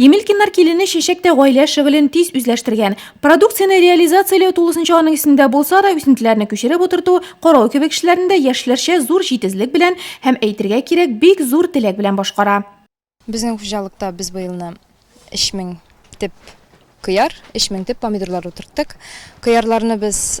Емелькиннар килене чәчәк тә гаилә шөгылен тиз үзләштергән. Продукцияне реализацияләү тулысынча аның исендә булса да, үсентеләрне күчереп утырту, карау кебек эшләрне дә яшьләрчә зур җитезлек белән һәм, әйтергә кирәк, бик зур теләк белән башкара. Безнең хуҗалыкта без быелны өч мең төп кыяр, өч мең төп помидорлар утырттык. Кыярларны без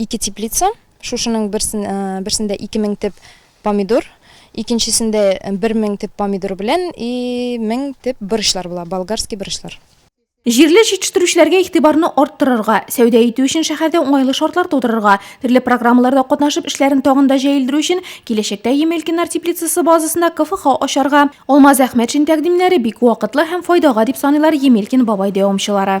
Ике теплица, шушының берсендә ике мең теп помидор, икенчесендә бер мең теп помидор белән и мең теп борычлар була, болгарский борычлар. Җирле җитештерүчеләргә игътибарны арттырырга, сәүдә итү өчен шәһәрдә уңайлы шартлар тудырырга, төрле программаларда катнашып эшләрен тагын да җәелдерү өчен киләчәктә Емелькиннар теплицасы базасында КФХ ачарга Алмаз Әхмәтшин тәкъдимнәре бик вакытлы һәм файдага дип саныйлар Емелькин бабай дәвамчылары.